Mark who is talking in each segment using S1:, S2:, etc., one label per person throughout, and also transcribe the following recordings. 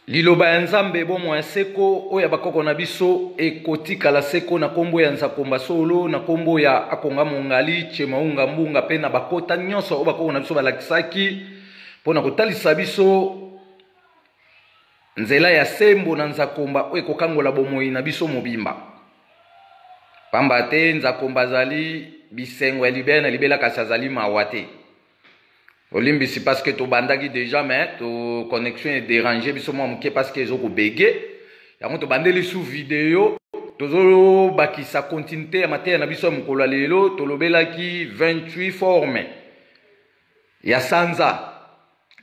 S1: Liloba ya Nzambe bomoi ya seko oyo ya bakoko na biso ekotikala seko na kombo ya Nzakomba Solo na kombo ya Akonga Mongali Chemaunga Mbunga pe na bakota nyonso oyo bakoko na biso balakisaki mpo na kotalisa biso nzela ya sembo na Nzakomba oyo ekokangola bomoi na biso mobimba. Pamba te Nzakomba azali bisengo ya libela na libela kasi azali mawa te. olimbisi parce que tobandaki déjà mais to connexion est dérange biso mwa moke parce que ezo kobege yango tobandeli sous video tozobakisa continuité ya mateya na biso ya mokolo ya lelo tolobelaki 28 forme ya sanza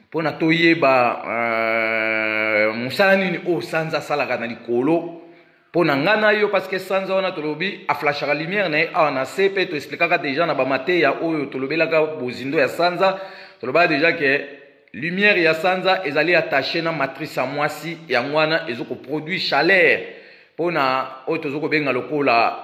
S1: mpo na toyeba euh, mosala nini oyo sanza asalaka na likolo mpo na ngai na yo parceke sanza wana tolobi aflashaka lumière na ye awa na se mpe toexplikaka deja na bamateya oyo tolobelaka bozindo ya sanza tolobaka deja ke lumière ya sanza ezali attache na matrice ya mwasi yango wana ezokoproduit chaleur mpo na oyo tozokobenga lokola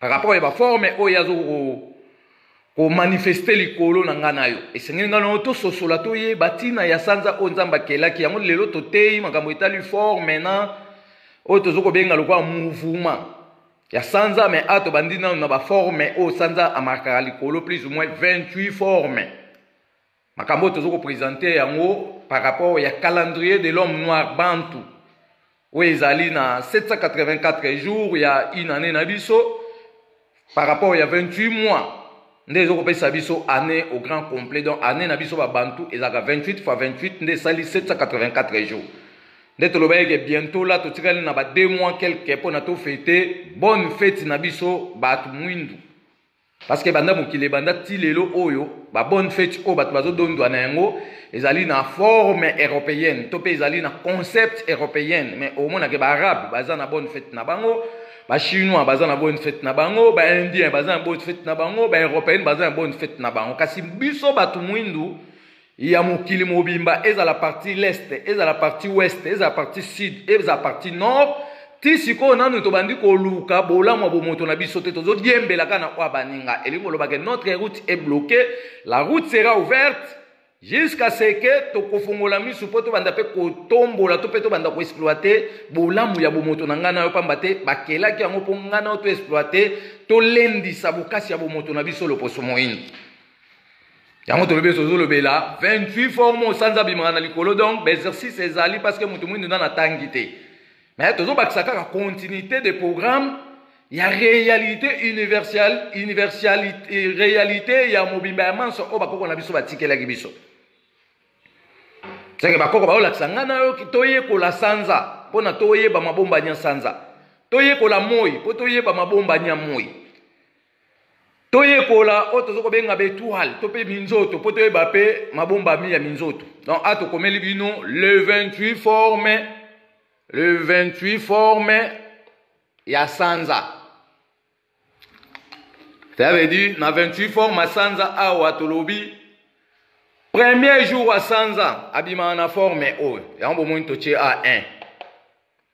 S1: par rapport ya baforme oyo azo komanifeste likolo na ngai na yo esengeli ngai nao tososola toyeba ntina ya sanza oyo nzambe akelaki yango lelo toteyi makambo etali forme na oyo tozo kobenga lokola mouvement ya sanza me a tobandi nano na baforme oyo sanza amarkaka likolo plus ou moins 28 forme makambo oyo tozo ko presenter yango par rapport ya calendrier de l'homme noir bantu oyo ezali na 784 jours ya une année na biso par rapport ya 28 mois nde ezokopesa biso année au grand complet donc année na biso babantu ezalaka 28 fois 28 nde esali 784 jours nde tolobaki ke bientôt la totikali na ba 2 mois quelque mpo na tofete bonne fete na biso bato mwindu parce que banda mokili ebanda ti lelo oyo ba bonne fete oyo bato bazodondwa na yango ezali na forme européenne to mpe ezali na concept européenne mais omonake baarabe baza na bonne fete na bango bachinois baza na bonne fete na bango baindien baza na bonne fete na bango baeuropéenne baza na bonne fete na bango kasi biso bato mwindu ya mokili mobimba ezala parti l'est ezala parti ouest ezala parti sud ezala parti nord ti sikoyo nanu tobandi koluka bolamu ya bomoto na biso te tozodiembela kaka na oyo baninga elingi koloba ke notre route est bloquée la route sera ouverte jusqu'à ce que tokofongola misu mpo tobanda mpe kotombola to mpe tobanda koexploite bolamu ya bomoto na ngai na yo mpamba te bakelaki yango mpo ngai na yo toexploite tolendisa bokasi ya bomoto na biso loposo moyini yango tolobi ete tozolobela 28 forme osanza abimaka na likolo donc baexercice ezali parce que moto moindo nana atangi te mais tozobakisa kaka continuité de programme ya réalité universelle universalité réalité ya mobimba ya manso oyo bakoko na biso batikelaki biso seke bakoko baolakisa ngai na yo toyekola sanza mpo na toyeba mabombani ya sanza toyekola moi mpo toyeba mabombani ya moi toyekola oyo tozo kobenga betoile to mpe minzoto mpo toyeba mpe mabombami ya minzoto donc a tokomeli bino le 28 forme le 28 forme ya sanza cela veut dire na 28 forme ya sanza awa tolobi premier jour ya sanza abimaka na forme oyo yango bomoni totie a 1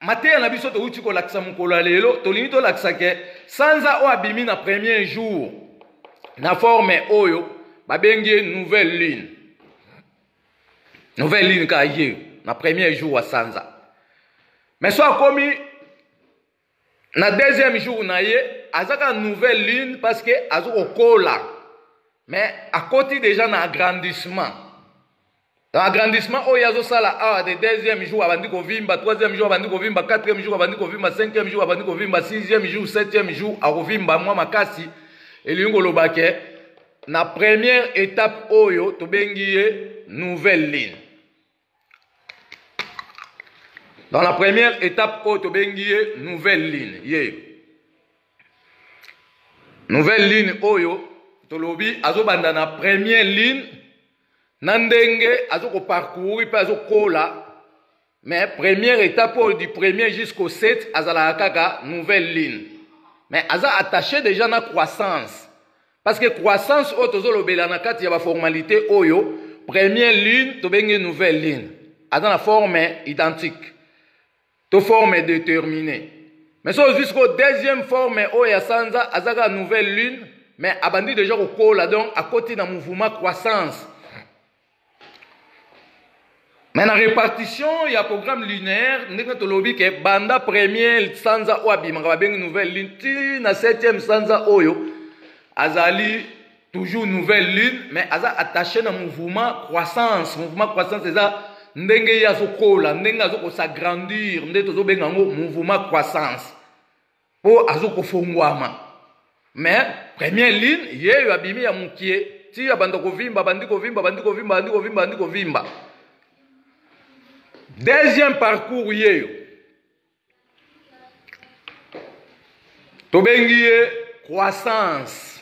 S1: mateya na biso towuti kolakisa mokolo ya lelo tolingi tolakisa ke sanza oyo abimi na premier jour na forme oyo babengi ye nouvelle lune nouvelle lune kaka ye na premier jour ya sanza me so akomi na deuxième jour na ye aza kaka nouvelle lune parce que aza kokola me akoti déjà na agrandissement agrandissement oyo azosala awa de deuxième jour abandi kovimba troisième jour abandi kovimba quatrième jour abandi kovimba cinquième jour abandi kovimba sixième jour septième jour akovimba mwa makasi elingi koloba ke na première étape oyo tobengi ye nouvelle ligne dans la première étape oyo tobengi ye nouvelle ligne ye nouvelle ligne oyo tolobi azobanda na première ligne na ndenge azokoparcourir mpe azokola mais première étape oyo du premier jusqu'au 7 azalaka kaka nouvelle lune mais aza attaché déjà na croissance parce que croissance oyo tozolobela na kati ya baformalité oyo première lune tobengi nouvelle lune aza na forme identique to forme determine mais so ozwi sikoyo deuxième forme oyo ya sanza aza kaka nouvelle lune mais abandi deja kokola donc akoti na mouvement croissance mais na répartition ya programme lunaire ndenge tolobi ke banda premier sanza oyo abimaka babengi nouvelle lune ti na septième sanza oyo azali toujours nouvelle lune mais aza attaché na mouvement croissance mouvement croissance eza ndenge ye azokola ndenge azokosagrandir nde tozobenga yango mouvement croissance mpo azokofongwama mais première ligne yeyo abimi ya mokie ti abanda kovimba bandi kovimba bandi kovimba bandi kovimba bandi kovimba deuxième parcours yeyo tobengi ye croissance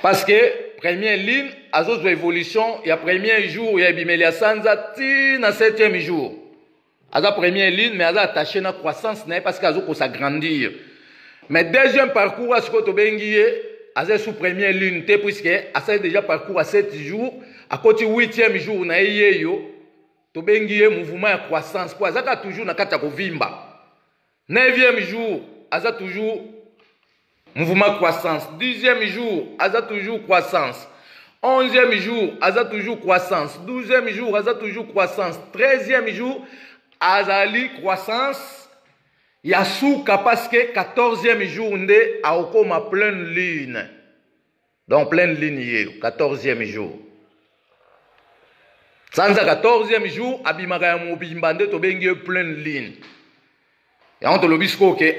S1: parce que première ligne azozwa évolution ya premier jour ya ebimeli ya sanza ti na septième jour aza première ligne mais aza attaché na croissance na ye parce que azokosa grandir mais deuxième parcours a sikoyo tobengi ye aza sous première ligne te puisque asali déjà parcours ya 7 jour akoti 8e jour na ye yeyo tobengi ye mouvement ya croissance mpo azaka toujours na kati ya kovimba 9e jour aza toujours mouvement croissance 10e jour aza toujours croissance 11e jour aza toujours croissance 12e jour aza toujours croissance 13e jour azali croissance ya suka parce que 14e jour nde akokoma pleine lune donc pleine lune ye 14e jour sanza 14e jour abimaka ya mobimba nde tobengi ye pleine lune yango tolobi sikoyo ke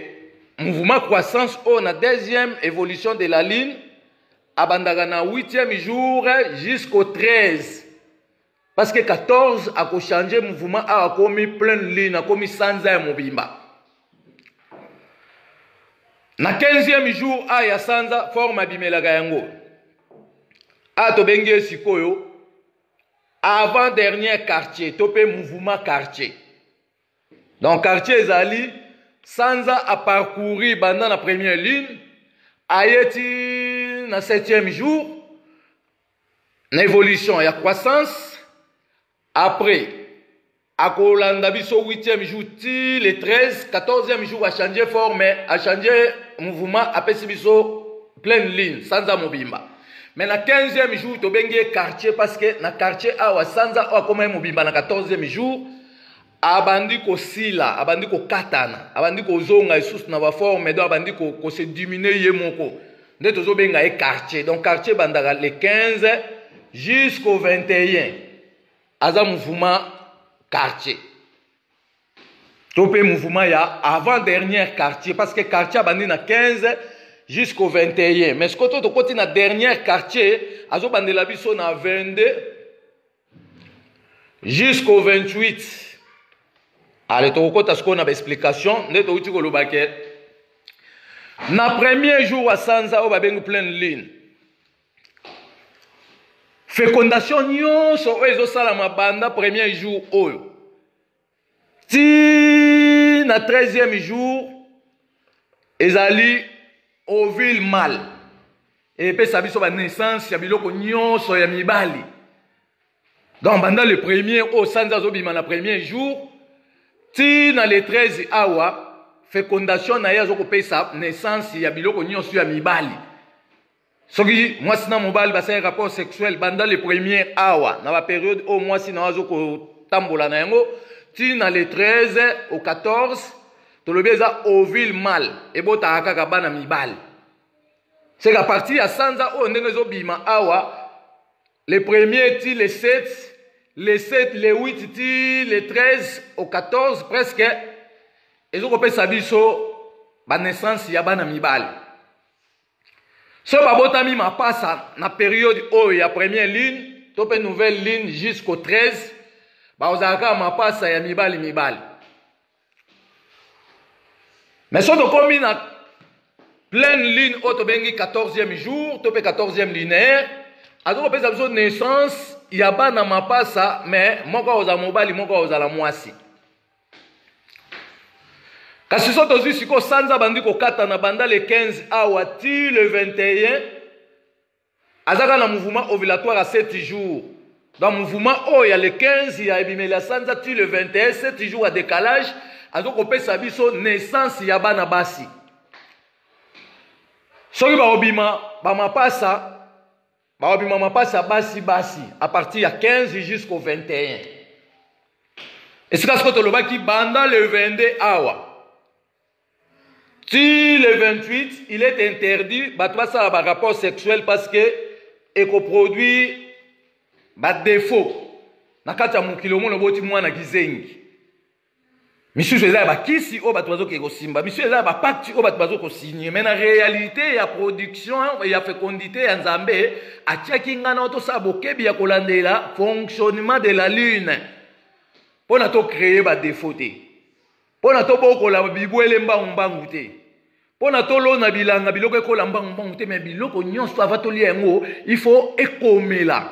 S1: mouvement croissance oyo na deuxième évolution de la lune abandaka na 8e jour jusqu'au 13 Parce que 14 ako changer mouvement awa akomi pleine lune akomi sanza ya mobimba. Na 15e jour a ya sanza forme abimelaka yango. A tobengi ye sikoyo avant dernier quartier to pe mouvement quartier. Donc quartier ezali sanza a parcourir banda na première lune ayeti na 7e jour na evolution ya croissance après akolanda biso 8e jour ti le 13 14e jour achange forme achange mouvement apesi biso pleine ligne sanza mobimba mais na 15e jour tobengi ye quartier parce que na quartier awa sanza oyo akoma ye mobimba na 14e jour abandi kosila abandi kokatana abandi kozonga lisusu na baforme donc abandi kose diminue ye moko nde tozobenga ye quartier donc quartier ebandaka le 15 jusqu'au 21 aza mouvement quartier to mpe mouvement ya avant dernière quartier parce que quartier abandi na 15 jusqu'au 21 mais sikoyo to tokoti na dernière quartier azobandela biso na 22 jusqu'au 28 ale tokokɔta sikoyo na baexplication nde touti koloba ke na premier jour ya sanza oyo babengi pleine lune fécondation nyonso oyo ezosalama banda premier jour oyo ti na 13e jour ezali ovile mal epesa biso banaissance ya biloko nyonso ya mibali donc banda le premier oyo oh, sanza azobima na premier jour ti na le 13 awa fécondation na ye azokopesa naissance ya biloko nyonso ya mibali soki mwasi na mobali basali rapport sexuel banda le premier awa na baperiode oyo mwasi na yo azo kotambola na yango ti na le 13 au 14 tolobi eza ovile mal ebotaka kaka bana mibali seka parti ya sanza oyo ndenge ezobima awa le premier ti le 7 le 7 le 8 ti le 13 au 14 presque ezokopesa biso banessanse ya bana mibali so babotami mapasa na periode oyo ya première ligne to mpe nouvelle ligne jusqu'au 13 bakozala kaka mapasa ya mibali mibali mais so tokomi na pleine ligne oyo tobengi 14e jour to mpe 14e linéaire azoki kopesa biso naissance ya bana mapasa mais moko akozala mobali moko akozala mwasi kasi so tozwi sikoyo sanza abandi kokatana banda le 15 awa ti le 21 aza kaka na mouvement ovulatoire ya 7 jours donc mouvement oyo ya le 15 ya ebimeli ya sanza ti le 21 7 jours ya décalage azo kopesa biso naissance ya bana basi soki bakobima bamapasa Baobima mapasi ya basi basi a partir ya 15 jusqu'au 21. Esika siko tolobaki banda le 22 awa. Ti le 28, il est interdit bato basala ba rapport sexuel parce que ekoproduire ba défaut na kati ya mokili omona boti mwana kizengi misusu eza ya bakisi oyo bato bazoki kosimba misusu eza ya bapakti oyo bato bazoki kosigne mai na réalité ya production ya fécondité ya nzambe atiaki ngai nao tosala bokebi ya kolandela fonctionnement de la lune mpo na tocreye badefo te mpo na tobokola bibwele mbangu mbangu te mpo na tolona bilanga biloko ekola mbangu mbangu te me biloko nyonso ava tolia yango il faut ekomela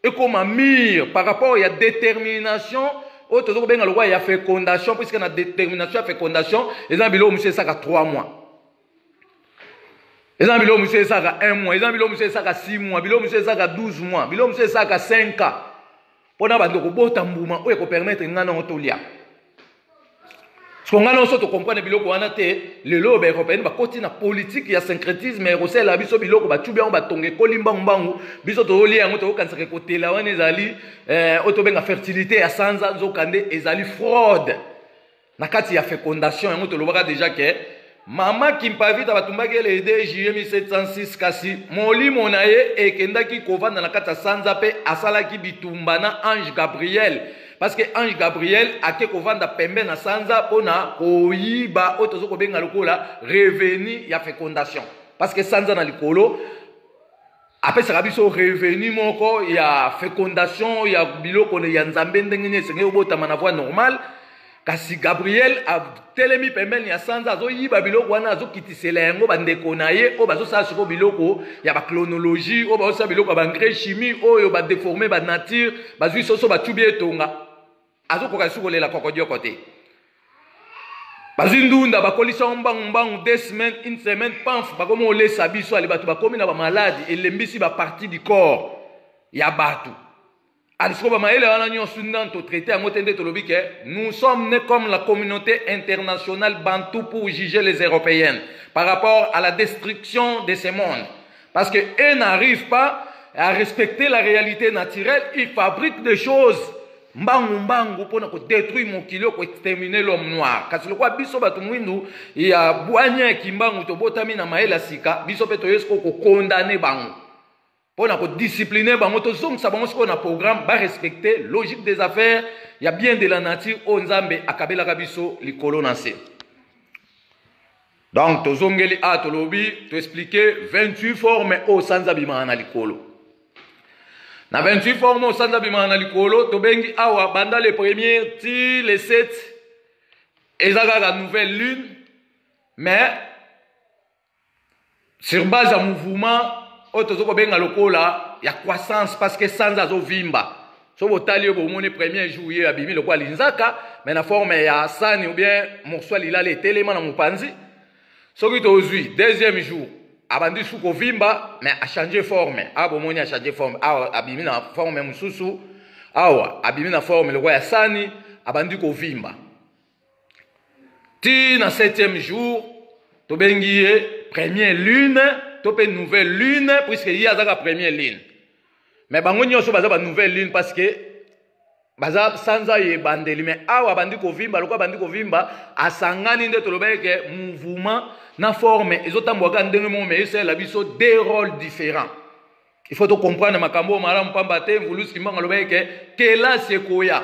S1: ekoma mire par rapport ya détermination oyo tozo kobenga lokola ya fécondation puisque na détermination ya fécondation eza na biloko mosusu esaka 3 mois eza na biloko mosusu esaka 1 mois eza na biloko mosusu esaka 6 mois biloko mosusu esaka 12 mois biloko mosusu esaka 5 ans mpo na bando kobota mbuma oyo ekopermetre ngai nango tolia soko ngai nanso tokomprane biloko wana te lelo oyo baeuropéenne bakoti na politike ya syncretisme ya kosalela biso biloko bacubi yango batonga ekoli mbangumbangu biso tozolia yango tokokanisaka ekotela wana ezali eh, oyo tobenga fertilité ya sanza nzoka nde ezali fraude na kati ya fecondation yango tolobaka deja ke mama kimpavita batumbaki ye le 2 juillet 1706 kasi molimo na ye ekendaki kovanda na kati ya sanza mpe asalaki bitumba na ange gabriel parce que ange gabriel ake kovanda pembe na sanza mpo na koyiba oyo toza kobenga lokola revenu ya fecondation parce que sanza na likolo apesaka biso revenu moko ya fecondation ya biloko ya nzambe ndenge nini esengeli obotama na voie normale kasi gabriel atelemi pembeni ya sanza azoyiba biloko wana azokitisela yango bandeko na ye oyo bazosala sikoyo biloko ya baclonologie oyo bazosala biloko ya baengrais chimie oyo badeforme banature bazwi soso bacubi etonga azokoka lisusu kolela kokodioko te bazwi ndunda bakolisa yango mbangu mbangu de semaine une semaine pamf bakomi kolesa biso ali bato bakomi na bamaladi elembisi baparti du corps ya bato alisiko bamayele wana nyonso nani totraite yango te nde tolobi ke nous sommes ne comme la communauté internationale bantou pour juger les européennes par rapport à la destruction de ce monde Parce que eux n'arrivent pas à respecter la réalité naturelle, ils fabriquent des choses mbangu mbangu mpo na kodétruire mokili oko extermine l'homme noir kasi lokola biso bato mwindu ya bwanya ya kimbangu tobotami na mayele ya sika biso mpe toyei sikoyo kokondane bango mpo na kodiscipline bango tozongisa bango sikoyo na programme barespecte logique des affaires ya bien de la nature oyo nzambe akabelaka biso likolo na nse donc tozongeli a ah, tolobi toexplike 28 forme oyo sanza abimaka na likolo na 28 forme oyo sanza abimaka na likolo tobengi awa banda le premier ti le 7 eza kaka nouvelle lune mais sur base ya mouvement oyo toza kobenga lokola ya croissance parce que sanza azovimba so botali yo bomoni premier jour ye abimi lokola linzaka mais na forme ya sani ou bien morso ya lilala etelema na mopanzi soki tozwi deuxième jour abandi su kovimba mais achange forme awa ah, bomoni achange forme awa ah, abimi na forme mosusu awa abimi na forme lokola ya sani abandi kovimba ti na septième jour tobengi ye première lune to mpe nouvelle lune puisque ye azaka première lune mais bango nyonso baza ba nouvelle lune parce que baza sanza ye ebandeli mais awa abandi kovimba lokola abandi kovimba asangani nde tolobaki ke mouvement na forme ezotambola kaka ndenge moko mais esalela biso deux rôles différents il faut tocomprendre makambo oyo malamu mpamba te mvulusi kimbango alobaki ke kelasi ekoya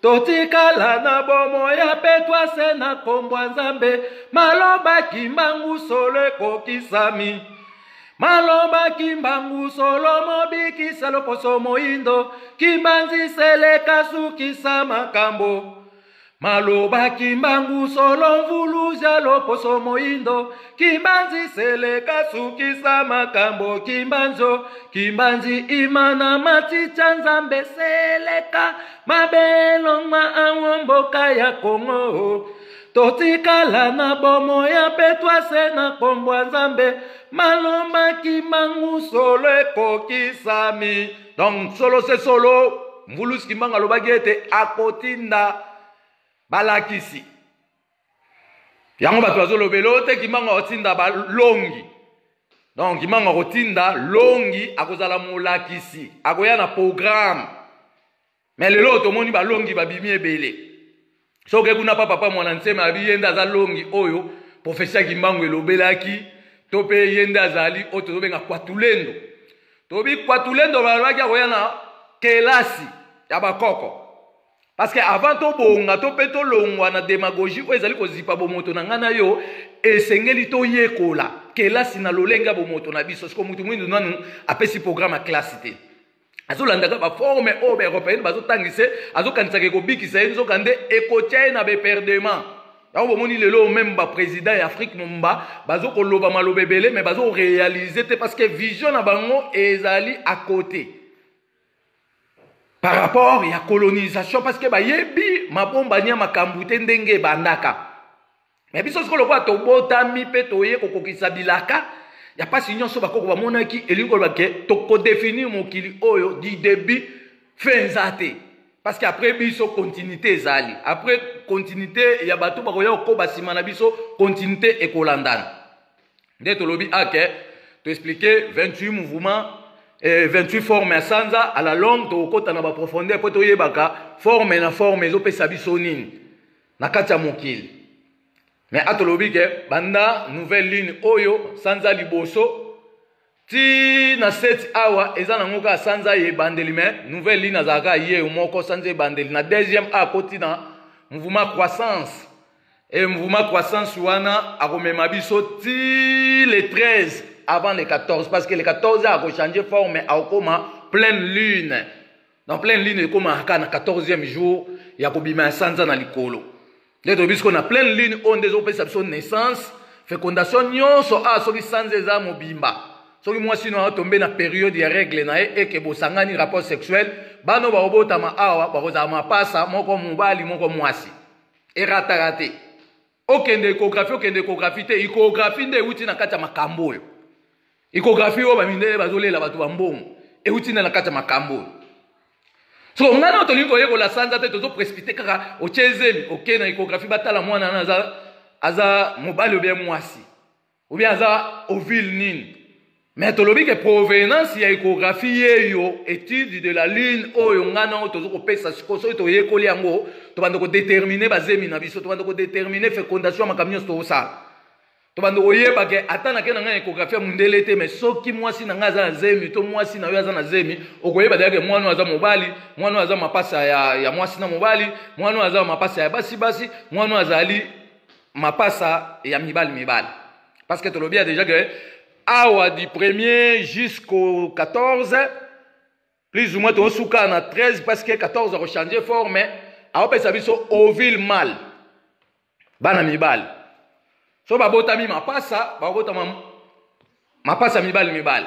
S1: totikala na bomoi ya petwa se na nkombo ya nzambe maloba kimbangu solo ekokisami maloba kimbangu solo mobikisa loposo moindo kimbanzi seleka sukisa makambo maloba kimbangu solo mvuluza loposo moindo kimbanzi seleka sukisa makambo kimbanzo kimbanzi imana maticha nzambe seleka mabe elongwa ango mboka ya kongo totikala na bomo ya petwase na nkombo ya nzambe malomaki mangu solo ekokisami donc solo se solo mvulusi kimbangu alobaki ete akotinda balakisi yango bato bazolobela oyo te kimbangu akotinda balongi donc kimbangu akotinda longi akozala molakisi akoya na programme me lelo oyo tomoni balongi babimi ebele soki kuna pa papa mwana nsema abi ye nde aza longi oyo profesi ya kimbangu elobelaki to mpe ye nde azali oyo tozobenga kwatulendo tobi kwatulendo balobaki akoya na kelasi ya bakoko Parce que avant to bonga to pe to longwa na demagogie oyo ezali kozipa bomoto na ngai na yo esengeli toyekola kelasi na lolenge ya bomoto na biso siko motu mwindu nanu apesi programme ya kelasi te azolandaka baforme oyo baeuropéenne bazotangisa azokanisaka ekobikisa ye nzoka nde ekotya ye na beperdement yango bomoni lelo oyo meme baprésident ya afrique momba bazokoloba maloba ebele mais bazorealize te parce que vision na bango ezali à côté par rapport ya colonisation parce que bayebi mabombani ya makambo te ndenge ebandaka me biso sikoyo lokola tobotami mpe toye kokokisa bilaka ya mpasi nyonso bakoko bamonaki elingi koloba ke tokodefinir mokili oyo du début fin eza te parce que après biso continuité ezali après continuité ya bato bakoya kokoba nsima na biso continuité ekolandana nde tolobi ake to expliquer 28 mouvement eh, 28 forme ya sanza à la longue tokokota na baprofondeur mpo toyebaka forme na forme ezopesa biso nini na kati ya mokili me atolobi ke banda nouvelle lune oyo sanza liboso ti na seti awa eza nango kaka sanza ya ebandeli me nouvelle lune azalaka ye moko sanza ebandeli na deuxième akoti na mouvement croissance Et mouvement croissance wana akomema biso ti le 13 avant le 14 parce que le 14 ako changer forme akoma pleine lune. Dans pleine lune ekoma aka na 14e jour ya kobima ya sanza na likolo. Nde toyebi sikoyo na pleine lune oyo nde ezopesa biso naissance fécondation nyonso awa ah, soki sanza eza mobimba soki mwasi no atombe na periode ya règle na ye eke bosangani rapport sexuel bano baobotama awa bakozala mapasa moko mobali moko mwasi erataka te okende ecographie okende ecographie te ecographie nde euti na kati ya makambo oyo ecographie oyo bamindele bazolela bato bambongo euti nde na kati ya makambo oyo so ngai nao tolingi koyekola sanza te tozo précipité kaka otie ezeli oke na ecographie batala mwana wana aza aza mobali obie mwasi ou bien aza ovile nini mais tolobi ke provenance ya échographie yeyo étude de la lune oyo ngai nango tozo kopesa sikoyo soki toyekoli yango tobanda kodetermine bazemi na biso tobanda kodetermine fécondation ya makambo nyonso tokosala tobanda koyeba ke ata nake na ngai na échographie ya mondele te mais soki mwasi na ngai aza na zemi to mwasi na yo aza na zemi okoyeba deya ke mwana oyo aza mobali mwana oyo aza mapasa ya, ya mwasi na mobali mwana oyo aza mapasa ya basi basi mwana oyo azali Mapasa ya mibali mibali. Parce que tolobi déjà que awa du 1er jusqu'au 14 plus ou moins tosuka na 13 parce que 14 ako changer forme aopesa biso ovile mal bana mibali so babotami mapasa babotama mapasa mibali mibali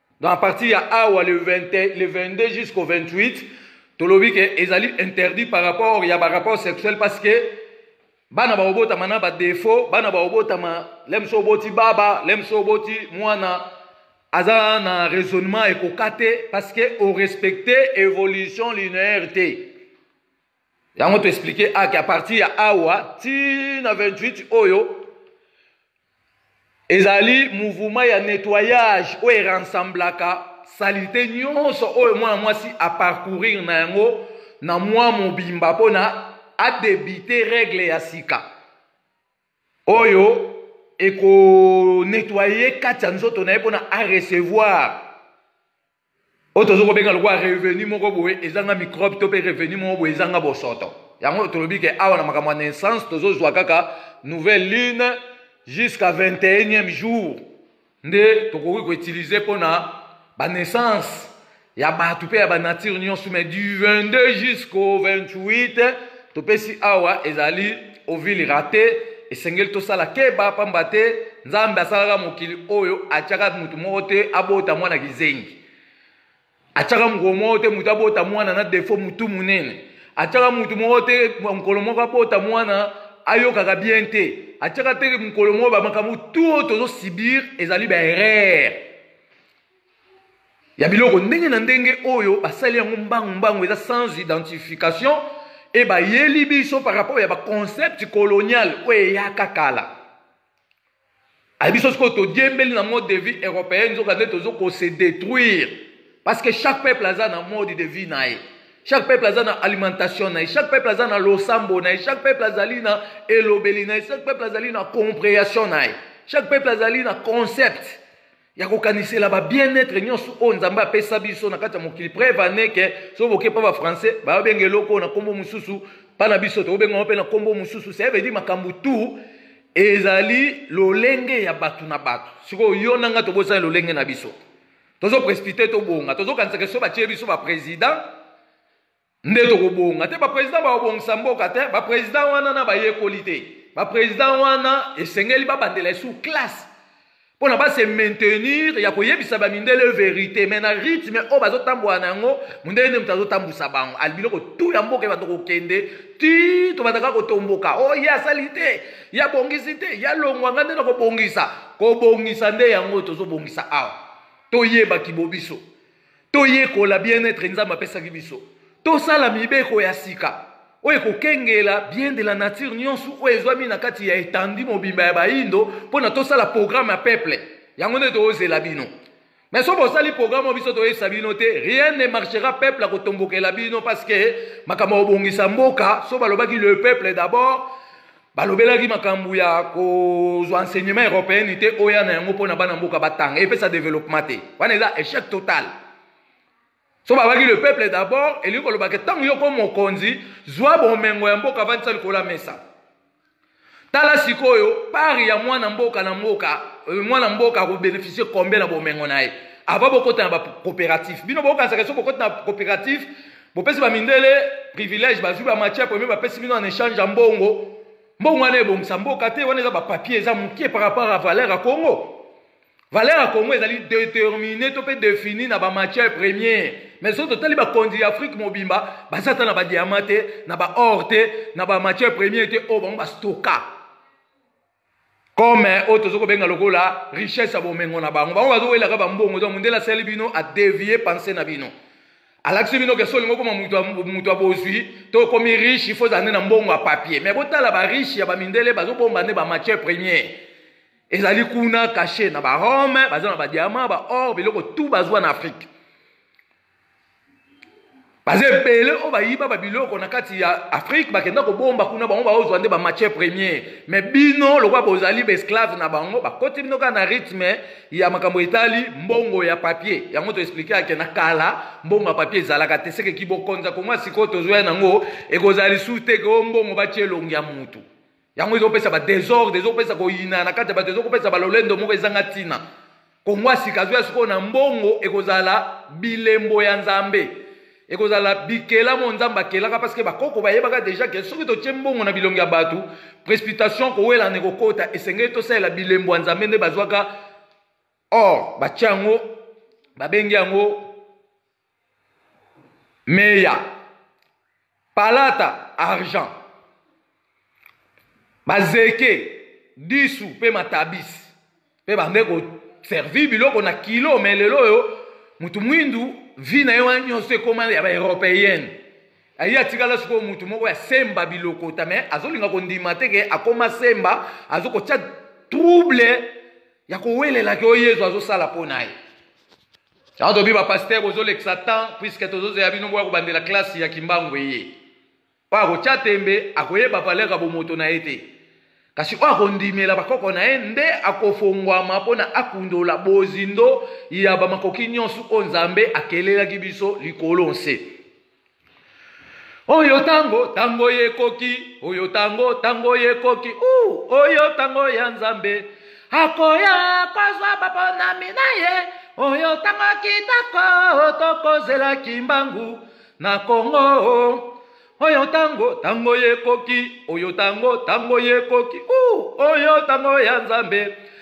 S1: donc à partir ya awa le, 20, le 22 jusqu'au 28 tolobi ke ezali interdit par rapport ya barapport sexuel parce que bana bakobotama na badefaut bana bakobotama lemso oboti baba lemso oboti mwana aza na raisonnement ekoka te parce que orespecte évolution linéaire te yango to expliquer ake a partir ya awa ti na 28 oyo ezali mouvement ya nettoyage oyo erensemblaka salite nyonso oyo mwana mwasi aparcourir na yango na mwa mobimba mpo na adebite regle ya sika oyo ekonetwaye kati ya nzoto na ye mpo na arecevoir oyo tozo kobenga lokola revenu moko boye ezanga microbe to mpe revenu moko boye ezanga bosoto yango tolobi ke awa na makambo ya naissance tozozwa kaka nouvelle lune jusqu'à 21e jour nde tokoki koutilize mpo na banaissance ya bato mpe ya banature nyonso mai du 22 jusqu'au 28 topesi awa ezali Ovile rate esengeli tosala keba pamba te Nzambe asalaka mokili oyo atiaka moto moko te abota mwana kizengi atiaka mokolo moko te moto abota mwana na defo motu monene atiaka moto moko te mokolo moko abota mwana ayokaka bien te atiaka te mokolo moko bamakambo tu oyo tozosibir ezali baerreur ya biloko ndenge na ndenge oyo basali yango mbangu mbangu eza sans identification e bayeli biso par rapport ya baconcept colonial oyo eyaka kala ayebi biso sikoyo todiembeli na mode de vie européenne nzoka nde tozo kose détruire parce que chaque peuple aza na mode de vie na ye chaque peuple aza na alimentation na ye chaque peuple aza na losambo na ye chaque peuple azali na elobeli na ye chaque peuple azali na comprehension na ye chaque peuple azali na concept ya kokanisela ba bien-être nyonso oyo nzambe apesa biso na kati ya mokili preuve ane ke soki boke mpa bafrançais bayobenga eloko oyo na nkombo mosusu mpa na biso tokobenga mpe na nkombo mosusu sevedi makambo tu ezali lolenge ya bato na bato sikoyo yo na ngai tobosani lolenge na biso tozo prescrite tobonga tozokanisaka so batie biso baprésident nde tokobonga te bapresident bakobongisa mboka te bapresident wana na bayekoli te bapresident wana esengeli babandela esu classe mpona base maintenir ya koyebisa bamindele verité mai na rythme oyo bazotambola na yango mondele nde moto azotambusa bango ali biloko tu ya mboka ebanda kokende ti tobandaka kotomboka o oh, ye asali te ye abongisi te ye alongwa ngai nde na kobongisa kobongisa nde yango tozobongisa awa toyeba kibobiso toyekola bien etre nzambe apesaki biso tosala mibeko ya sika oyo ekokengela bien de la nature nyonso oyo ezwami na kati ya etandi mobimba ya baindo mpo na tosala programe ya peuple yango nde toozela bino mais soki bosali programe oyo biso toyebisa bino te rien ne marchera peuple akotombokela bino parce que makambo ya kobongisa mboka so balobaki le peuple d'abord balobelaki makambo ya kozwa enseignement européenne te oya na yango mpo na bana mboka batanga epesa développement te wana eza échec total so babaki le peuple d'abord elingi koloba ke ntango yoko mokonzi zwa bomengo ya mboka avandisa likolo ya mesa tala sikoyo pari ya mwana mboka na mboka euh, mwana mboka akobeneficie kombe na bomengo na ye ava bokota na bacoopérative bino bokanisaka so bokota na coopérative bopesi bamindele privilège bazwi bamatière premier bapesi bino en échange ya mbongo mbongo wana ebongisa mboka te wana eza bapapier eza moke par rapport à valeur ya congo valeur ya congo ezali détermine to mpe défini na bamatière première mais soki totali bakonzi ya afrique mobimba baza ata na badiama te na baor te na bamatière première te oyo bango bastoka comme oyo tozo kobenga lokola richesse ya bomengo na bango bango bazowelaka bambongo donc mondele asali bino adevie pense na bino alakisi bino kesi olingi okoma moto ya bozwi to okomi riche ifo ozala nde na mbongo ya papier mais botala bariche ya bamindele bazobomba nde bamatière première ezali kuna cache na barome baza na badiama baor biloko tout bazwa na afrique baza ebele oyo bayiba babiloko na kati ya afrike bakenda kobomba kuna bango baozwa nde bamatière première me bino lokola bozali baesclave na bango bakoti bino kaka na rythme ya makambo etali mbongo ya papier yango toexplike ake na kala mbongo ya papier ezalaka te sekeki bokonza koma sikoyo tozwa yango ekozala lisusu te ke o mbongo batye elongi ya motu yango ezopesa badesordre ezopesa koyina na kati ya bato ezokopesa balolendo moko ezanga ntina kongo ya sika azoya sikoyo na mbongo ekozala bilembo ya nzambe ekozala bikelamo nzambe akelaka parceke bakoko bayebaka deja ke soki totye mbongo na bilongi ya bato precipitation kowelana ekokota esengeli tosalela bilembo ya nzambe nde bazwaka or batya yango babengi yango meya palata argent bazeke disu mpe matabisi mpe bande koservi biloko na kilo me lelo oyo motu mwindu vi na ye wana nyonso ekoma ya baeuropeyenne aye atikala sikoyo motu moko ya semba bilokota me azolinga kondima te ke akoma semba azokotya trouble ya kowelelaki oyo yezu azosala mpo na ye Yango tobi ba pasteur bozolekisa temps puisque tozozeya bino boya kobandela classe ya kimbangu eye oyo akotya tembe akoyeba valeur ya bomoto na ye te kasi oyo akondimela bakoko na ye nde akofongwama mpo na akundola bozindo ya bamakoki nyonso oyo nzambe akelelaki biso likolo nse oyo tango tango ekoki oyo tango tango ekoki uh, oyo tango ya nzambe akoya kozwa baponami na ye oyo tango kitoko tokozela kimbangu na kongo oyo tango tango ekoki oyo tango tango ekoki uh, oyo tango ya nzambe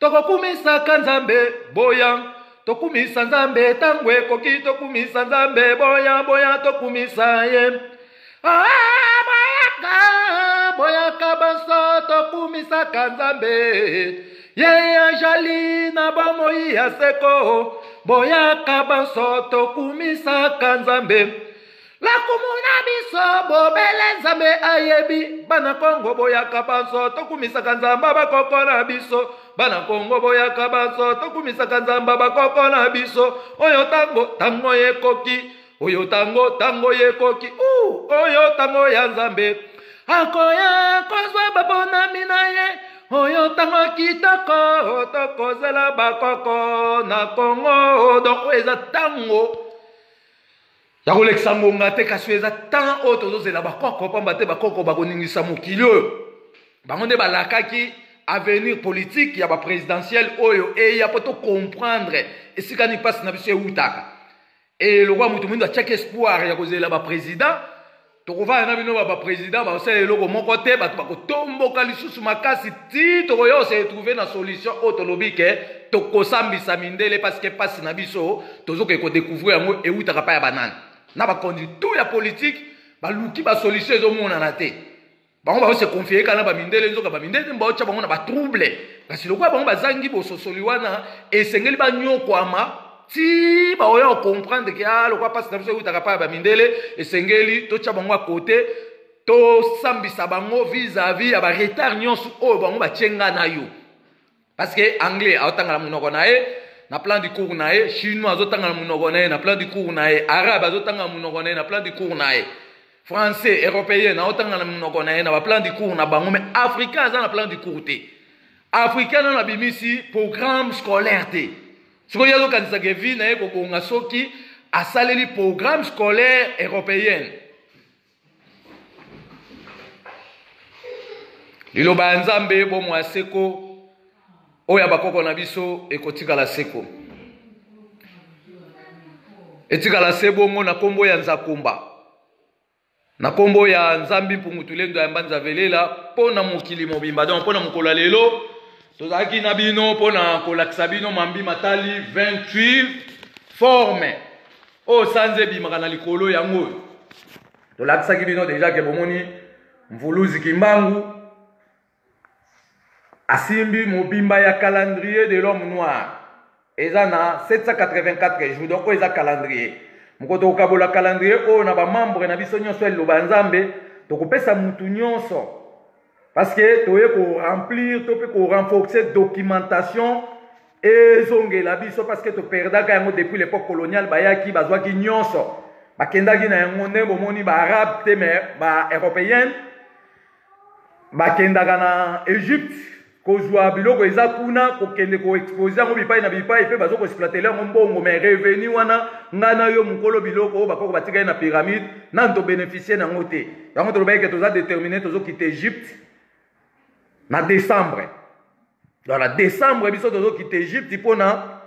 S1: tokokumisaka nzambe boya tokumisa nzambe ntango ekoki tokumisa nzambe boya boya tokumisa ye ah, boyaka boyaka banso tokumisaka nzambe ye ajali na bomoi ya seko boyaka banso tokumisaka nzambe lakumu na biso bobele nzambe ayebi bana kongo boyaka banso tokumisaka nzamba bakoko na biso bana kongo boyaka banso tokumisaka nzamba bakoko na biso oyo ntango ntango ekoki oyo ntango ntango ekoki oyo ntango ya nzambe akoya kozwa babonami na ye oyo ntango kitoko tokozela bakoko na kongo donk oyo eza ntango ya kolekisa ngonga te kasi oyo eza ntango oyo tozozela bakoko mpamba te bakoko bakoningisa mokili oyo bango nde balakaki avenir politique ya baprésidentielle oyo eya mpo tocomprendre esika ni mpasi na biso ewutaka e lokola moto moindo atiaki espoir ya kozela baprésident tokovanda na bino ba président basala eloko moko te bato bakotomboka lisusu makasi ti tokoya se retrouve na solution oyo tolobi ke tokosambisa mindele parce que mpasi na biso tozokoki kodécouvrir yango ewutaka pa ya banani na bakonzi tout ya politike baluki basolution ezomonana te bango bao se confie kaka na bamindele nzoka bamindele nde baotya bango na batrouble kasi lokola bango bazangi bososoli wana esengeli banyokwama ti baoya kocomprendre ke a ah, lokola mpasi na biso eutaka mpa ya bamindele esengeli totya bango ya kote tosambisa bango vis-à-vis ya baretard nyonso oyo bango batye nga na yo parce que anglais aotanga na monoko na ye na plan du cours na ye chinois azotanga na monoko na ye na plan du cours na ye arabe azotanga na monoko na ye na plan du cours na ye français européen aotanga na monoko na ye na baplan du cours na bango mais africain aza na plan du cours te africain nano abimisi programme scolaire te sikoyo ye azokanisaka vie na ye kobonga soki asaleli programme scolaire européenne liloba ya nzambe bomo ya seko oyo ya bakoko na biso ekotikala seko etikala se bongo na nkombo ya nzakumba na nkombo ya nzambi mpungutulendo ya mbanza velela mpo na mokili mobimba donc mpo na mokolo ya lelo tozalaki na bino mpo na kolakisa bino mambi matali 28 forme oyo oh, sanza ebimaka na likolo yango oyo tolakisaki bino deja ke bomoni mvuluzi kimbangu asimbi mobimba ya calendrier de l'homme noir eza na 784 jours donc oyo eza calendrier moko tokokabola calendrier oyo na bamembre na biso nyonso ya liloba ya nzambe tokopesa mutu nyonso parce que toye ko remplir to pe ko renforcer documentation ezongela biso parce que to perdaka yango depuis l'époque coloniale bayaki bazwaki nyonso bakendaki na yango nde bomoni ba arabe te mais ba européenne bakendaka na egypte kozwa biloko eza kuna kokende koexpose yango bipai na bipai mpe bazo koexploitele yango mbongo mai revenu wana ngai na yo mokolo biloko oyo bakoko batikali na pyramide nani tobeneficie na yango te yango tolobaki ke toza détermine tozokita egypte na décembre voilà décembre biso tozokita egypte mpona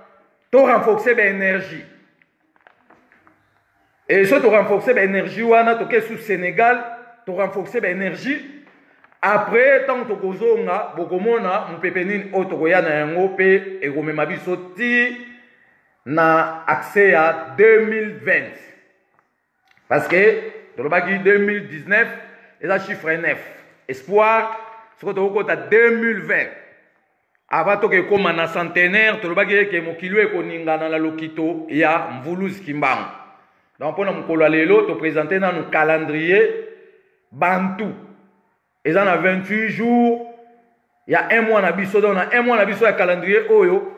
S1: to renforcer baénergie e so to renforcer baénergie wana toke su sénégal to renforcer baénergie après ntango tokozonga bokomona mopepe nini oyo tokoya na yango mpe ekomema biso ti na accès ya 2020 parce que tolobaki 2019 eza chiffre 9 espoir soki tokokota 2020 ava toka ekóma na centenaire tolobaki eke mokili oyo ekoningana na lokito ya mvuluzi kimbangu donc mpo na mokolo ya lelo topresente nanu calendrier bantu eza na 28 jours ya un mois na biso donc na un mois na biso ya calendrier oyo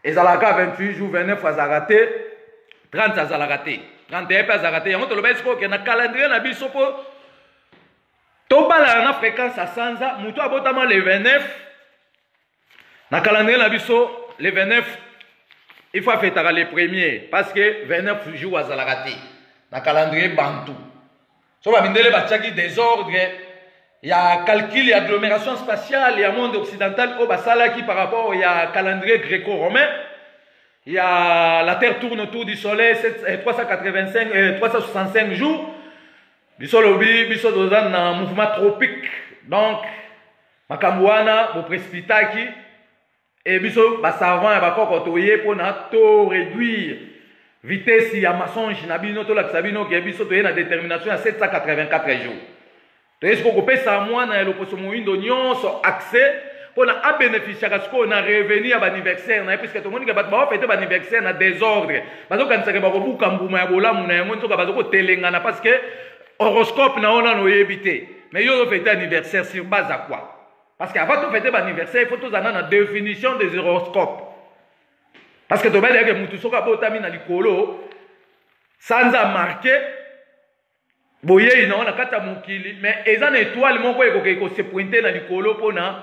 S1: ezalaka 28 jours 29 azalaka te 30 azalaka te 31 mpe azalaka te yango toloba esiko oke na calendrier na biso mpo tobalana na fréquence ya sanza moto abotama le 29 na calendrier na biso le 29 il faut afetaka le premier parce que 29 jour azalaka te na calendrier bantu so bamindele batiaki desordre ya calcul ya agglomération spatiale ya monde occidental oyo basalaki par rapport ya calendrier gréco-romain ya la terre tourne autour du soleil 7, 385, eh, 365 eh, jours biso lobi biso toza na mouvement tropique donc makambo wana bopresipitaki e biso basavant ya bakoko toye mpona to réduire vitesse ya mensonge na bino tolakisa bino ke biso toye na détermination ya 784 jours toye sikoyo kopesa mwana ya loposo moindo nyonso accès mpona abénéficiaka sikoyo na revenu ya baaniversaire na ye puiske tomoni ke bato baofete baaniversaire na désordre bazokanisaka bakobuka mbuma ya bolamu na yango nzoka bazokotelengana parce que horoscope na yo nano oyebi te Mais yo fête anniversaire sur base à quoi Parce qu'avant de fêter l'anniversaire, il faut tous avoir la définition des horoscopes. Parce que tu vas dire que Moutousoka Botami na likolo, sans a marqué, boyei na wana kata mokili mais eza na étoile moko ekokei kosepointe na likolo mpona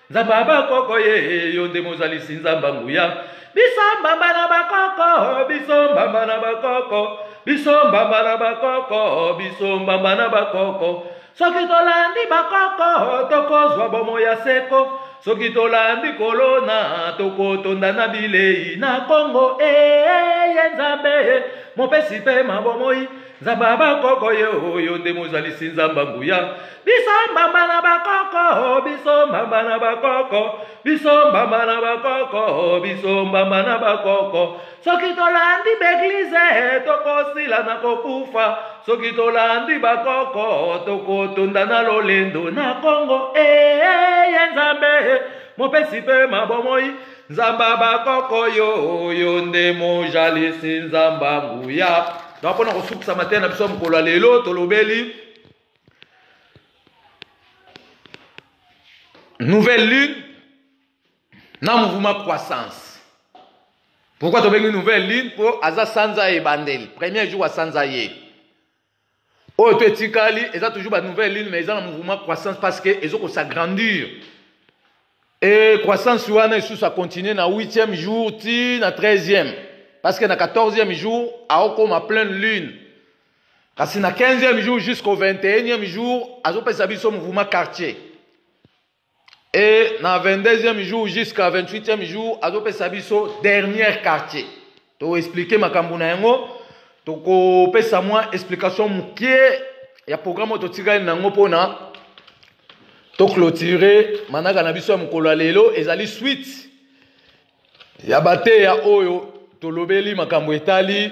S1: nzambe ya bakoko ye yo nde mozalisi nzambe ya nguya biso mbamba na bakoko biso mbamba na bakoko biso mbamba na bakoko biso mbamba na bakoko soki tolandi bakoko tokozwa bomo ya seko soki tolandi kolona tokotonda na bilei na kongo eye eh, eh, eh, nzambe mopesi mpe mabomoi nzambe ya bakoko ye oyo nde mozalisi nzambe nguya biso mbamba na bakoko biso mbamba na bakoko biso mbamba na bakoko biso mbamba na bakoko soki tolandi baeglize tokosila na kokufa soki tolandi bakoko tokotonda na lolendo na kongo eye eh, eh, eh, nzambe mopesi mpe mabomoi nzamba bakoko yo yo nde mojalisi nzamba nguya donc mpona kosukisa mateya na biso ya mokolo ya lelo tolobeli nouvelle lune na mouvement croissance pourquoi tobengi nouvelle lune mpo aza sanza ebandeli premier jour ya sanza ye oyo to etikali eza toujours ba nouvelle lune mais eza na mouvement croissance parce que ezo ko s'agrandir et croissance wana esusu acontinue na 8e jour ti na 13e parce que na 14e jour aokoma pleine lune kasi na 15e jour jusqu'au 21e jour azopesa biso mouvement quartier Et na 22e jour jusqu'à 28e jour, azopesa biso dernier quartier. To expliquer makambo na yango, tokopesa mwa explication mokie ya programme oyo totikali na yango mpona toclotire manaka na biso ya mokolo ya lelo ezali suite ya bateya oyo tolobeli makambo etali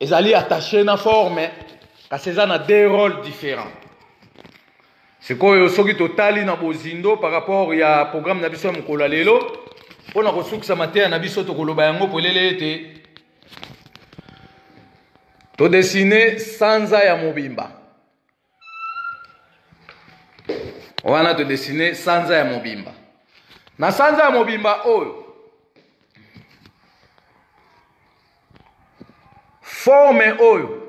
S1: ezali attache na forme kasi eza na deux rôles différents sikoyo soki totali na bozindo par rapport ya programme na biso ya mokolo ya lelo mpo na kosukisa mateya na biso tokoloba yango polele ete todesine sanza ya mobimba wana todesine sanza ya mobimba na sanza ya mobimba oyo forme oyo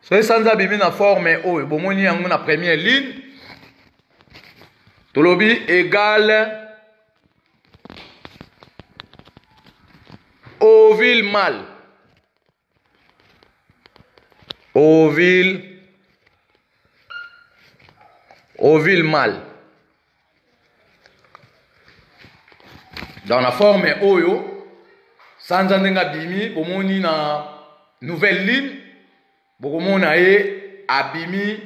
S1: soki sanza abimi na forme oyo bomoni yango na première ligne tolobi egale ovile male Ovil Ovil mal dans la forme oyo sanza ndenge abimi bomoni na nouvelle ligne bokomona ye abimi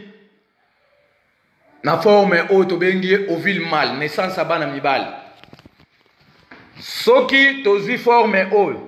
S1: na forme oyo tobengi ye ovile mal naissance ya bana mibali soki tozwi forme oyo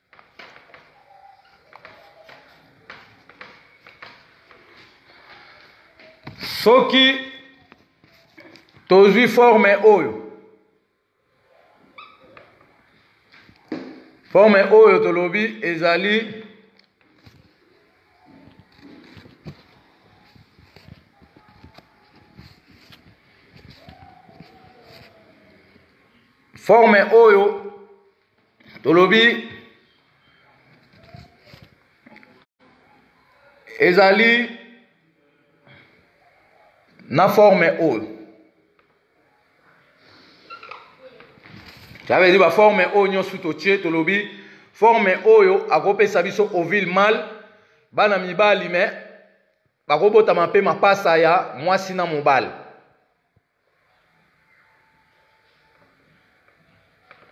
S1: soki tozwi forme oyo forme oyo tolobi ezali forme oyo tolobi ezali na forme oyo ça veut dire baforme oyo nyonso totie tolobi forme oyo akopesa biso ovile male bana mibali me bakobotama mpe mapasa ya mwasi na mobali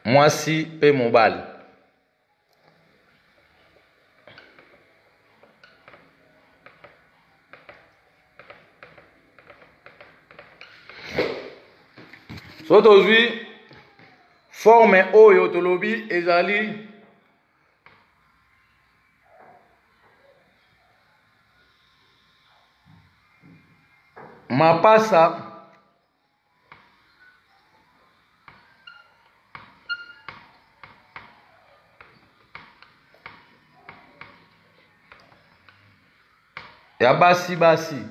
S1: mwasi mpe mobali so tozwi forme oyo tolobi ezali mapasa ya basi basi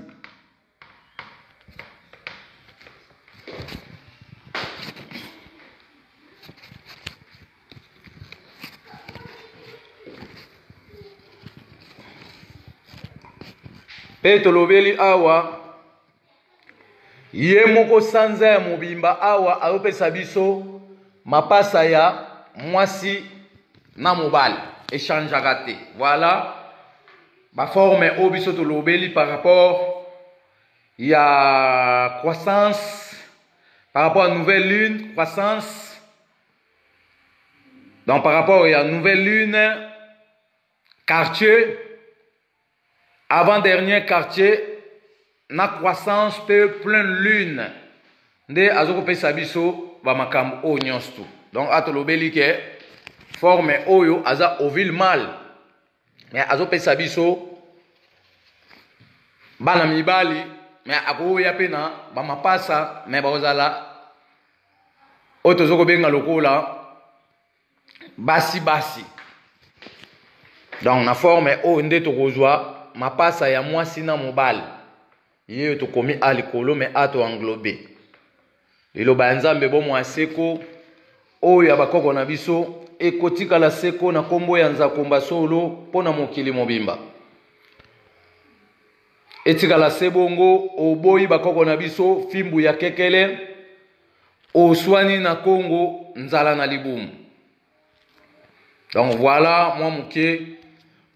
S1: mpe tolobeli awa ye moko sanza ya mobimba awa azopesa biso mapasa ya mwasi na mobali echangeaka te voilà Ba formes oyo biso tolobeli par rapport ya croissance, par rapport à nouvelle lune, croissance. Donc par rapport à nouvelle lune, quartier, avant-dernier quartier, na croissance pe pleine lune. Nde azokopesa biso ba makambo oyo nyonso tout. Donc atolobeli ke forme oyo aza ovile male me azopesa biso bana mibali me akoya mpe na bamapasa me bakozala oyo tozo kobenga lokola basi basi donc na forme oyo nde tokozwa mapasa ya mwasi na mobali Ye oyo tokomi a likolo me a to englobe liloba ya Nzambe bomo ya seko oyo ya bakoko na biso ekotikala seko na kombo ya Nzakomba solo mpo na mokili mobimba. etikala se bongo oboyi bakoko na biso fimbu ya kekele oswani na kongo nzala na libumu donc voilà mwa moke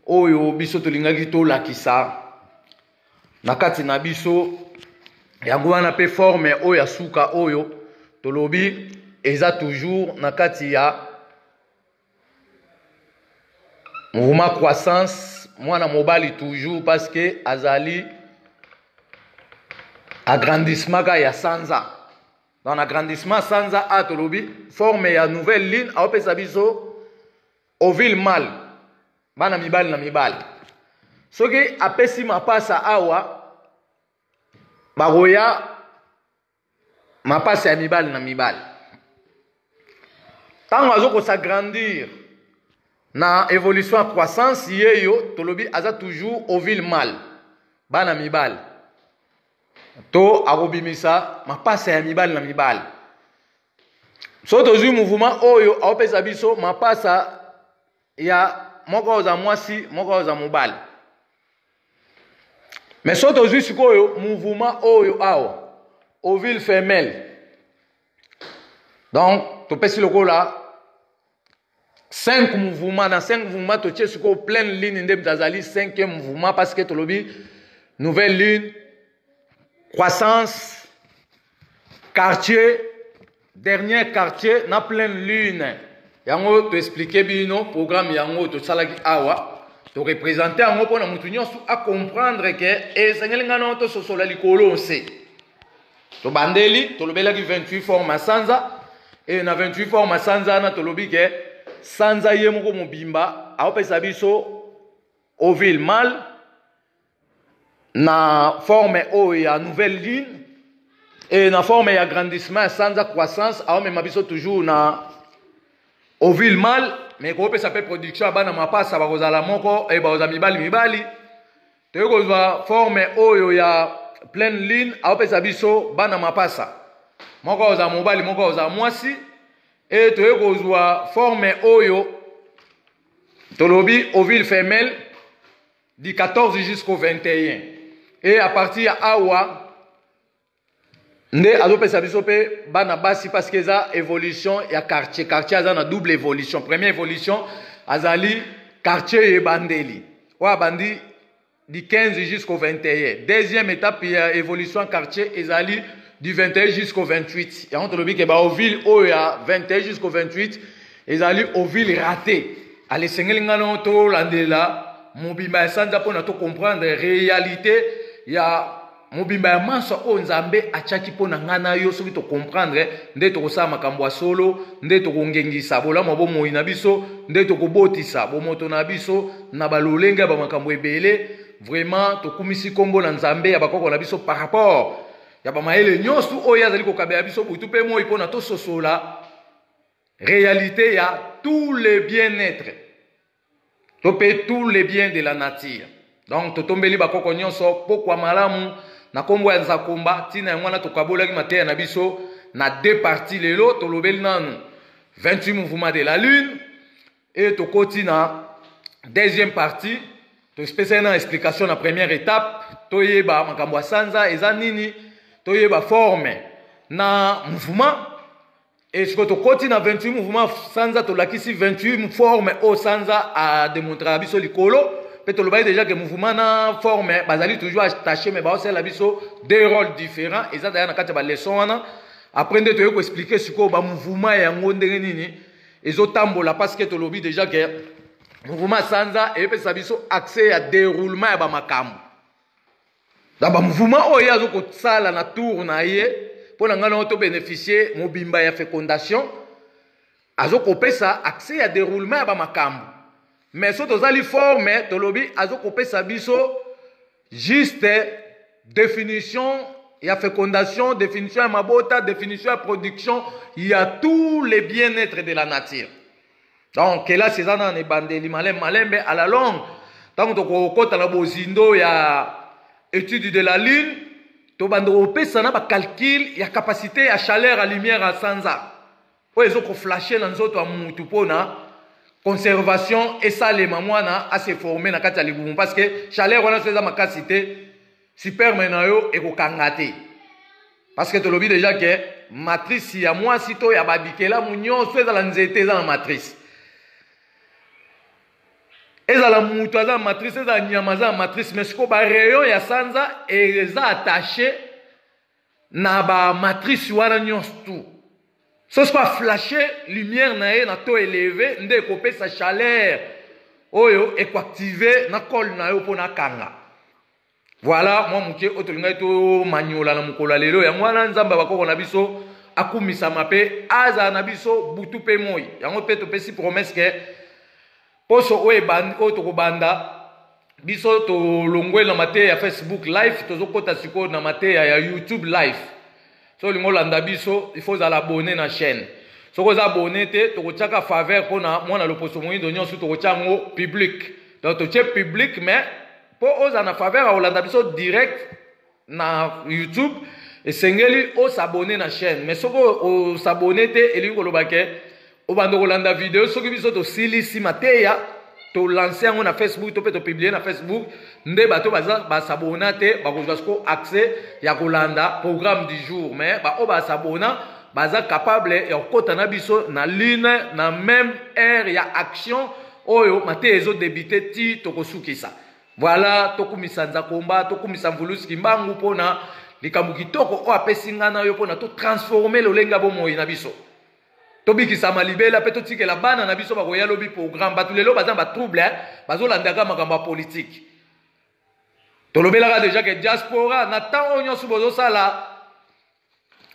S1: oyo biso tolingaki tolakisa na kati na biso yango wana mpe forme oyo ya suka oyo tolobi eza toujours na kati ya mouvement croissance mwana mobali toujours parce que azali agrandissement ka ya sanza donc agrandissement sanza a tolobi forme ya nouvelle ligne aopesa biso ovile mal bana mibali na mibali soki apesi mapasa awa bakoya mapasa ya mibali na mibali ntango azokosa grandir na évolution ya croissance ye yo tolobi aza toujours ovile mal bana mibali to akobimisa mapasa ya mibali na mibali soki tozwi muvuma oyo aopesa biso mapasa ya moko oza mwasi moko oza mobali me soki tozwi sikoyo muvuma oyo awa ovile femelle donc topesi lokola 5 mouvement na 5 mouvement totie sikoyo pleine lune nde azali 5e mouvement parce que tolobi nouvelle lune croissance quartier dernier quartier na pleine lune yango toexplike bino programme yango tosalaki awa torepresente yango mpo na moto nyonso acomprendre ke esengeli ngai nao tososola likolo nse tobandeli tolobelaki 28 fort masanza e na 28 fort masanza wana tolobi ke sanza ye moko mobimba aopesa biso ovile mal na forme oyo ya nouvelle ligne e na forme ya grandissement ya sanza croissance aomema biso toujours na ovile mal me koopesa mpe production ya bana mapasa bakozala moko e bakozala mibali mibali toyei kozwa forme oyo ya pleine lune aopesa biso bana mapasa moko akozala mobali moko akozala mwasi e toyei kozwa forme oyo tolobi ovile femelle du 14 jusqu'au 21 e à partir ya awa nde azopesa biso mpe bana basi parce que eza évolution ya quartier quartier aza na double évolution première évolution azali quartier ye ebandeli oyo abandi du 15 jusqu'au 21 deuxième étape ya évolution ya quartier ezali du 21 jusqu'au 28 yango tolobi ke baovile oyo ya 21 jusqu'au 28 ezali ovile raté ala esengeli ngai nao tolandela mobimba ya sanza mpona tocomprendre réalité ya mobimba ya manso oyo nzambe atyaki mpo na ngai na yo soki tokomprendre nde tokosala makambo ya solo nde tokongengisa bolamu ya bomoi na biso nde tokobotisa bomoto na biso na balolenge ya bamakambo ebele vraiment tokumisi nkombo na nzambe ya bakoko na biso par rapport ya bamayele nyonso oyo azali kokabela biso butu mpe moi mpo na tososola réalité ya tous les bien-être to pe tout les biens de la nature donc totombeli bakoko nyonso pokwa malamu na kombo ya nzakomba ntina yango wana tokabolaki mateya na biso na deux parti lelo tolobeli nanu 28 mouvement de la lune e tokoti na deuxième partie topesaki na explication na première étape toyeba makambo ya sanza eza nini toyeba forme na mouvement Et ce que tu cotis na 28 mouvements sanza to lakisi 28 forme au sanza a démontrer biso likolo pe to lobaye déjà que mouvement na forme bazali toujours attaché mais ba osela biso deux rôles différents et ça d'ailleurs na kati ba leçon wana après nde toyei koexplike sikoyo bamouvement yango ndenge nini ezotambola parce que tolobi déjà ke mouvement sanza epesa biso accès ya déroulement ya bamakambo na ba mouvement oyo ye azo kosala na tour na ye mpo na ngai nango to bénéficier mobimba ya fécondation azo kopesa accès ya déroulement ya bamakambo mais so tozali forme tolobi azo kopesa biso juste définition ya fécondation définition ya mabota définition ya production ya tous les bien-être de la nature donc kelasi eza nana na ebandeli malembe malembe à la longue ntango tokokota na bozindo ya étude de la lune tobanda kopesa na bacalcule ya capacité ya chaleur ya lumière ya sanza oyo ezo koflashe na nzoto ya mutu mpo na conservation esalema mwana aseforme na kati ya libumu parce que chaleur wana so eza makasi te Sperme na yo ekokanga te. Parce que tolobi déjà que matrice ya mwasi to ya babikelamu nyonso ezala nzete eza na matrice. ezala moto aza na matrice ezala nyama aza na matrice mais sikoyo barayon ya sanza eza attache na bamatrice wana nyonso tout so sikoyo aflashe lumière na ye na to eleve nde ekopesa chaleur oyo ekoactive na cole na yo mpo nakanga Voilà mwa moke oyo tolingaki tomanyola na mokolo ya lelo yango wana nzambe ya bakoko na biso akumisama mpe azala na biso butu mpe moi yango mpe topesi promese ke poso oyo ebandi oyo tokobanda biso tolongweli na mateya ya facebook live tozokɔta sikoyo na mateya ya youtube live so olingi olanda biso ifo ozala abone na chaîne soki oza abone te tokotyaka faveur mpo na mwana loposo moindo nyonso tokotya yango public donc totye public mais mpo ozala na faveur ya kolanda biso direct na youtube esengeli osabone na chaîne mais soki osabone te elingi koloba ke obanda kolanda video soki biso tosilisi mateya tolanse yango na facebook to mpe topiblie na facebook nde bato baza basabona te bakozwa siko accès ya kolanda programme du jour mais baoyo basabona baza capable ya kokɔta na biso na lune na même heure ya action oyo mateya ezo debite ti tokosukisa voilà tokumisa nzakomba tokumisa mvulusi kimbangu mpo na likambo kitoko oyo apesi ngai na yo mpo na totransforme lolenge ya bomoi na biso tobikisama libela mpe totikela bana na biso bakoya lobi programme bato lelo baza na batrouble eh? bazolandaka makambo ya politike tolobelaka deja ke diaspora na ntango oyo nyonso bozosala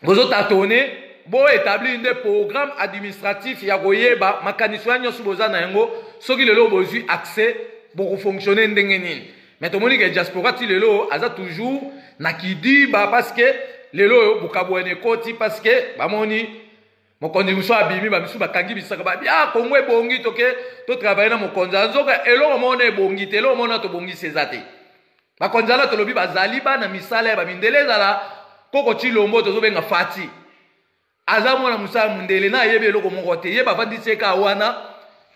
S1: bozo tatone bo établir nde programme administratif ya koyeba makanisi wana nyonso boza na yango soki lelo bozwi accès bokofonctionne ndenge nini mais tomoni ke diaspora ti lelo aza toujours na kidiba parce que lelo oyo bokabwani ekoti parce que bamoni mokonzi mosusu abimi bamisusu bakangi bisaka babi a ah, kongo ebongi toke totravaille na mokonzi anzoka eloko moko na ebongi te eloko moko na tobongisi eza te bakonzi wana tolobi bazali bana misala ya bamindele ezala koko cilombo tozobenga fati aza mwana mosala mondele na ayebi eloko moko te ye bavandisi ye kaa wana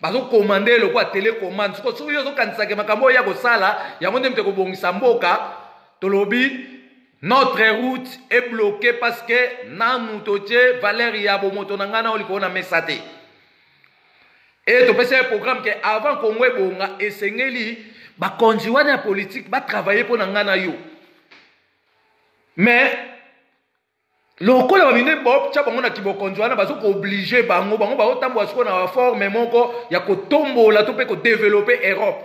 S1: bazokomande eloko ya telekomande soko soki yo ozokanisake makambo oyo ya kosala yango nde mpe kobongisa mboka tolobi Notre route est bloquee parce que nanu totie valeur ya bomoto na ngai nao likolo na mesa te e topesi ye programme ke avant kongo ebonga esengeli bakonzi wana ya politike batravaille mpo na ngai na yo mais lokola bamine botya bango na kibokonzi wana bazo kooblige bango bango baotambola sikoyo na baforme moko ya kotombola to mpe kodevelope europe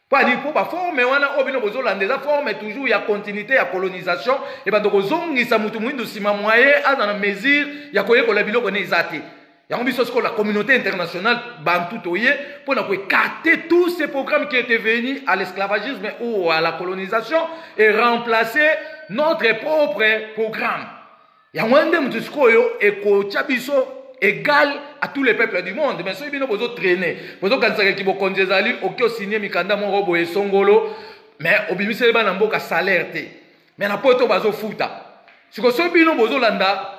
S1: Padi mpo baforme wana oyo bino bozolanda eza forme toujours ya continuité ya colonisation ebanda kozongisa moto moindo nsima mwaye aza na mesure ya koyekola biloko ne eza te yango biso sikoyo la communauté internationale bantu toye mpo na koekarte tout ce programme qui était venu à l'esclavagisme ou à la colonisation et remplacer notre propre programme yango wana nde moto sikoyo ekotya biso égal à tous les peuples du monde mais soki bino bozotraine bozokanisaka eki bokonzi ezali oke osinie mikanda moko boye esongolo mais obimiseli bana mboka salaire te mais na poto bazofuta siko soki bino bozolanda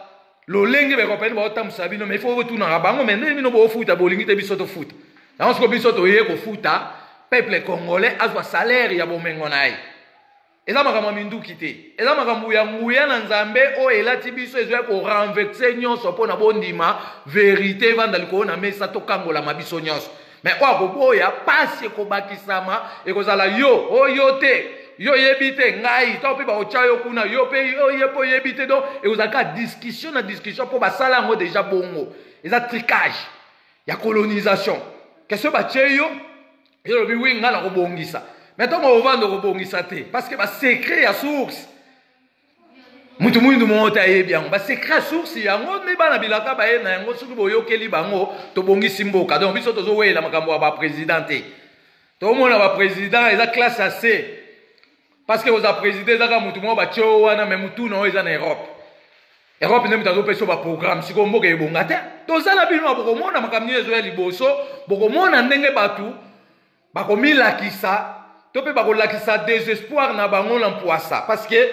S1: lolenge bakompani baotambusa bino mais ifo botunaka bango mais ndenge bino bofuta bolingi te biso tofuta yango siko biso toye kofuta peuple congolais azwa salaire ya bomengo na ye eza makambo ya minduki te eza makambo ya nguya na nzambe oyo elati biso ezwaki korenvexe nyonso mpo na bondima verite evanda likolo na mesa tokangolama biso nyonso me oyo akoboya mpasi ekobakisama ekozala yo oyo te yo oyebi te ngai ntango mpe bakotya yo kuna yo mpe oye mpe oyebi te donc ekozala kaka discussion na discussion mpo basala yango deja bongo eza tricage ya colonisation kesio batye yo yo lobi wi ngai nakobongisa mai ntango ovanda okobongisa te parce que basecret ya source moto moyindo moko te ayebi yango basecret ya source yango nde bana bilaka baye na yango soki boyokeli bango tobongisi mboka donc biso tozoweyela makambo ya baprésident te tomona baprésident eza classe ya se parce que oza président ezaka mutu moko batye o wana me mutu na oyo eza na europe europe nde moto azopesa yo baprogramme sikoyo mboka ebonga te toza na bino bokomona makambo nini ezoya liboso bokomona ndenge bato bakomilakisa to mpe bakolakisa desespoir na bango na mpwasa parce que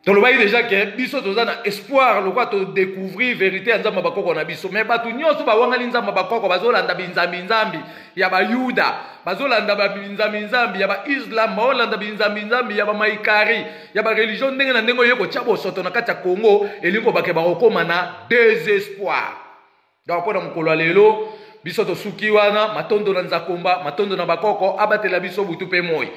S1: tolobaki deja ke biso toza na espoir lokola todecouvrir verité ya nzambe ya bakoko na biso me bato nyonso bawangani nzambe ya bakoko bazolanda binzambinzambi ya bayuda bazolanda binzambinzambi ya baislam baolanda binzambinzambi ya bamaikari ya bareligion ndenge na ndenge oye kotya bosoto na kati ya congo elingi kobake bakokóma na desespoir donc mpo na mokolo ya lelo biso tosuki wana matondo na nzakomba matondo na bakoko abatela biso butu mpe moi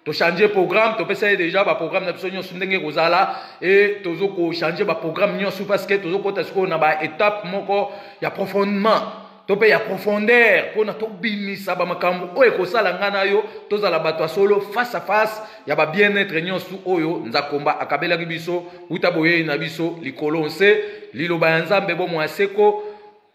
S1: tochange programme topesa ye déjà baprogramme na biso nyonso ndenge ekozala e tozo kochange baprogramme nyonso parce que tozokota sikoyo na baetape moko ya profondement to mpe ya profondeur mpona tobimisa bamakambo oyo ekosala ngai na yo tozala bato ya solo face à face ya ba bien-etre nyonso oyo Nzakomba akabelaki biso uta boyei na biso likolo nse liloba ya Nzambe bomoi ya seko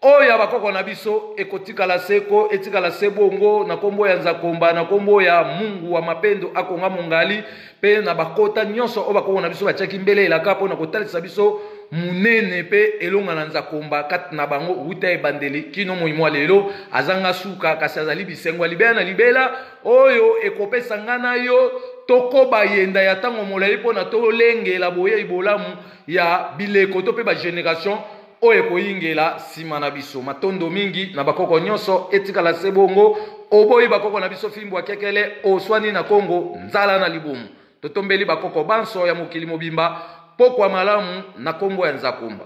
S1: oyo ya bakoko na biso ekotikala seko etikala se bongo na nkombo ya nzakomba na nkombo ya mungu wa mapendo akonga mongali mpe na bakota nyonso oyo bakoko na biso batiaki mbele elaka mpo na kotalisa biso monene mpe elonga na nzakomba kati na bango uta ebandeli kino moi mwa lelo azanga suka kasi azali bisengo ya libela na libela oyo ekopesa ngai na yo tokoba yenda ya ntango molai mpo na tolengela boyei bolamu ya bileko to mpe bageneration oyo ekoyingela nsima na biso matondo mingi na bakoko nyonso etikala se bongo oboyi bakoko na biso fimbo akekele oswani na kongo nzala na libumu totombeli bakoko banso ya mokili mobimba mpokwa malamu na nkombo ya nzakumba